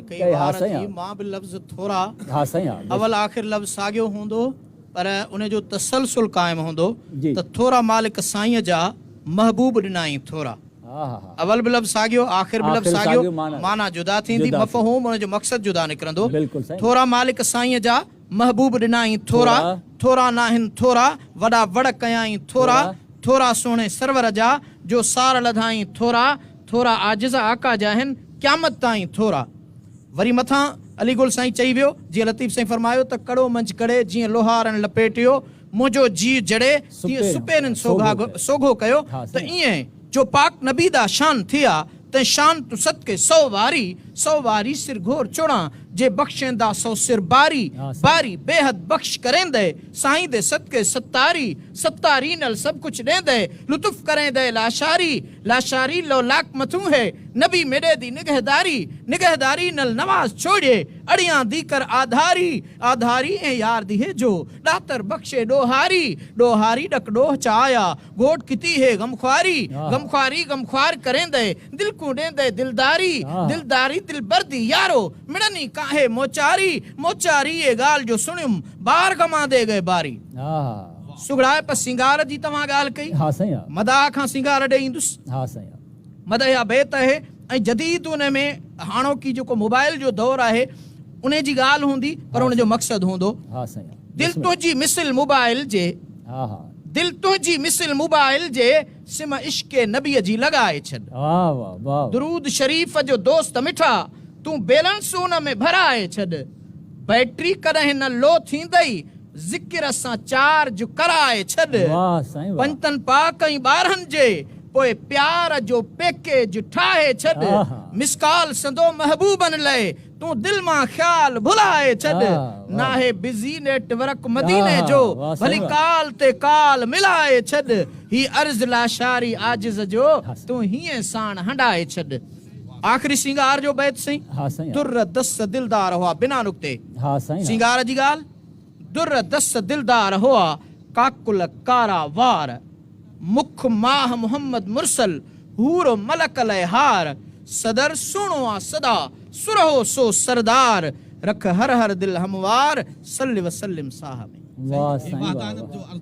ڪئي ها سائين. اول آخر لفظ ساڳيو هوندو پر ان جو تسلسل قائم هوندو ته ٿورا مالڪ سائينء جا محبوب ڏنائين ٿورا. اول به لفظ ساڳيو آخر به لفظ ساڳيو معنيٰ جدا ٿيندي مفهوم ان جو مقصد جدا نڪرندو ٿورا مالڪ سائينء جا. محبوب ڏنائين ٿورا، ٿورا ناهن ٿورا، وڏا وڙ ڪيائين ٿورا، ٿورا سهڻي سرور جا، جو سار لڌائين ٿورا، ٿورا عاجز آقا جا هن، قيامت تائين ٿورا. وري مٿان علي گل سائين چئي ويو، جيئن لطيف سائين فرمايو ته ڪڙو منجهه ڪڙي جيئن لوهارڻ لپيٽيو، منهنجو جيء جڙي تيئن سپيرين سوگهاڳ سوگهو ڪيو ته ايئن جو پاڪ نبي دا شان ٿئا تئن شان تون صدقي سو واري سو واري سر گهور چڙان جي بخشين دا سو سر باري باري بيحد بخش ڪريندئي سائين دي صدقي ستاري ستاري نل سڀ ڪجھ ڏيندئي لطف ڪريندئي لاشاري لاشاري لو لاک مٿون هي نبي ميڏي دي نگهداري نگهداري نل نواز ڇوڙيي اڙيان دي ڪر آڌاري آڌاري ۽ يار ديهي جو، ڏاتر بخشي ڏوهاري، ڏوهاري ڏڪ ڏوهه چاهيا، گهوٽ ڪتي هي غم خواري، غم خواري غم خوار ڪريندئي، دل ڪون ڏيندئي دلداري، دلداري دلبر دي يارو، مڙن ئي ڪانهي موچاري، موچاري اي ڳالهه جو سڻيم، بار غمان دي ڳئي باري. سگهڙائپ سينگار جي توهان ڳالهه ڪئي، مداح کان سينگار ڏئي ايندس. مدحيا بيت آهي ۽ جديد ان ۾ هاڻوڪي جيڪو موبائل جو دور آهي انهي جي ڳالهه هوندي پر ان جو مقصد هوندو دل تنهنجي مثل موبائل جي دل تنهنجي مثل موبائل جي سم عشق نبي جي لڳائي ڇڏ درود شريف جو دوست مٺا تون بيلنس ان ۾ ڀرائي ڇڏ. بيٽري ڪڏهن نه لو ٿيندئي ذڪر سان چارج ڪرائي ڇڏ پنجتن پاڪ ۽ ٻارهن جي پوء پيار جو پيڪيج ٺاهي ڇڏ مسڪال سندو محبوبن لئي تون دل مان خيال ڀلائي ڇڏ ناهي بزي نيٽ ورڪ مديني جو ڀلي ڪال تي ڪال ملائي ڇڏ هي عرض لاشاري عاجز جو تون هينئن ساڻ هنڊائي ڇڏ. آخري سينگار جو بيت سائين. ها سائين. در دس دلدار هئا بنا نقطي. ها سائين. سينگار جي ڳالهه. در دس دلدار هئا ڪاڪل ڪارا وار. مک ماه محمد مرسل حور و ملڪ لئه هار. صدر سهڻو آ سدا سرهو سو سردار. رک هر هر دل هموار صل وسلم صاحب. واهه سائين واهه واهه.